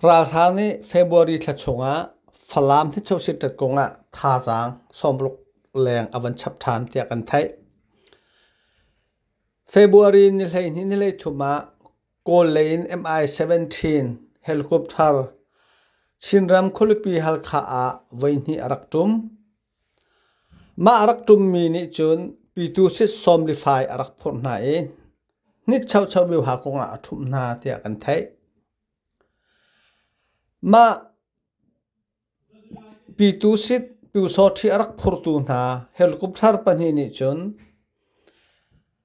Ralhrang nih February thla chungah Falam hnichuah sitrat kongah thazaang sawmruk leng a van chap ṭhan tiah kan theih. February ni hleihnih ni hleithum ah Kawl lei in MI17 helicopter Chinram khualipi Halkha ah voihnih a rak ṭum. Mah rak ṭummi nih cun pitu sit sawmlifai a rak phurh hna i hnit chocho vioha kongah a ṭhumh hna tiah kan theih. Mah pitu sit pyusawṭhi a rak phurtu hna helkup thar pahnih nih cun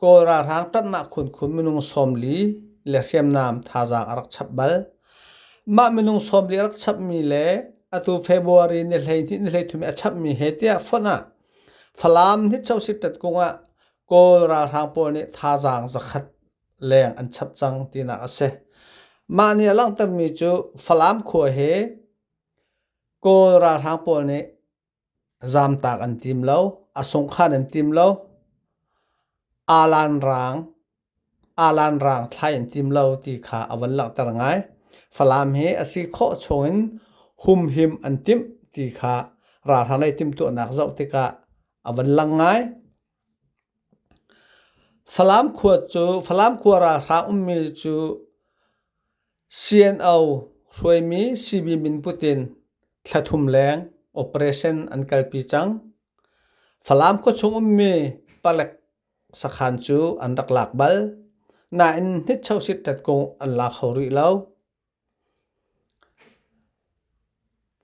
Kawl ralhrang ṭanhnak phunphun minung sawmli le hriamnam thazaang a rak chap bal. Mah minung sawmli a rak chapmi le atu February ni hleihnih ni hleithum i a chapmi he tiah fonh ah Falam Hnitchohsittet kung ah Kawl ralhrang pawl nih thazaang zakhat leng an chap cang tinak a si. Mah nih a langhtermi cu Falam khua he Kawl ralhrang pawl nih Zamtak an tim lo. A sungkhan an tim lo. Alan raang, alan raang thlai an tim lo ti kha a van langhter ngai. Falam hi a si khawh chungin humhim an timh ti kha ralhranglei timhtuahnak zoh tikah a van lang ngai. Falam khua cu, Falam khua ralhrang ummi cu CNO hruaimi Sibi min put in thla thum leng operation an kalpi cang. Falam khuachung ummi palek sakhan cu an rak lak bal. Nain hnitchosit tatkung an la kho rih lo.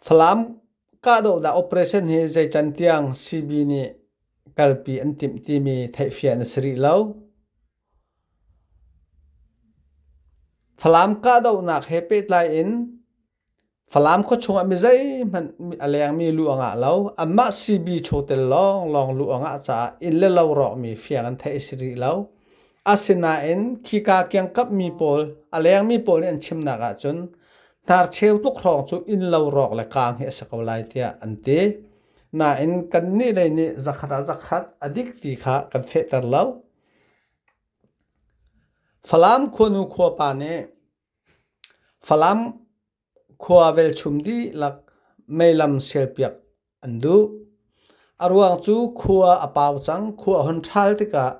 Falam kahdohdah operation hi zeican tiang CB nih kalpi an timh timi theihfian a si rih lo. Falam kahdohnak he pehtlai in Falam khuachung ah mizeihmanh a lengmi luh a ngah lo. Anmah CB ṭhu tel lawnglawng luh a ngah caah inn le lo rawkmi fiang an theih si rih lo. Asinain khika kiangkapmi pawl, a lengmi pawl nih an chimnak ahcun hnarcheu tuk hrawng cu inn lo rawk le kaang hi a si ko lai tiah an ti. Nain kannih lei nih zakhat ah zakhat a dik ti kha kan fehter lo. Falam khuanu khuapa nih Falam khua velchum dihlak meilam sialpiak an duh. A ruang cu khua a pau cang. Khua a hon ṭhal tikah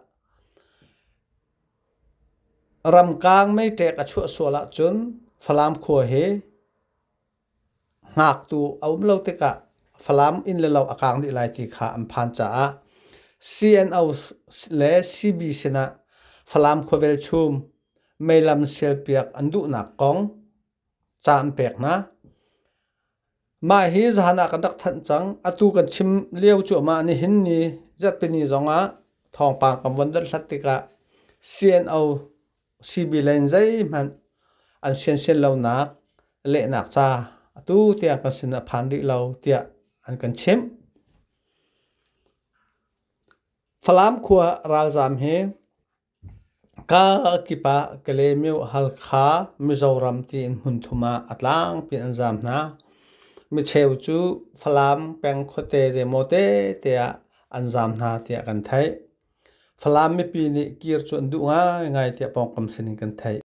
ramkaang meiṭek a chuah sual ahcun Falam khua hi Ngaktu a um lo tikah Falam inn le lo a kaang dih lai ti kha an phan caah CNO le CB sinah Falam khuavel chum meilam sialpiak an duhnak kong ca an pek hna. Mah hi zahan ah kan rak thanh cang. Atu kan chim lio cuahmah nihin ni Zatpini zongah thawngpang kan von danh hlat tikah CNO Sibilen zeihmanh an siansian lonak a lehnak ca atu tiah kan sin a phan rih lo tiah an kan chimh. Falam khua ralzam hi ka kip ah Kalemyo Halkha Mizoram tiin hmun thum ah a tlang pin an zam hna. Micheu cu Falam peng khuate zeimaw te tiah an zam hna tiah kan theih. Falam mipi nih kir cu an duh ngaingai tiah pawngkam sin in kan theih.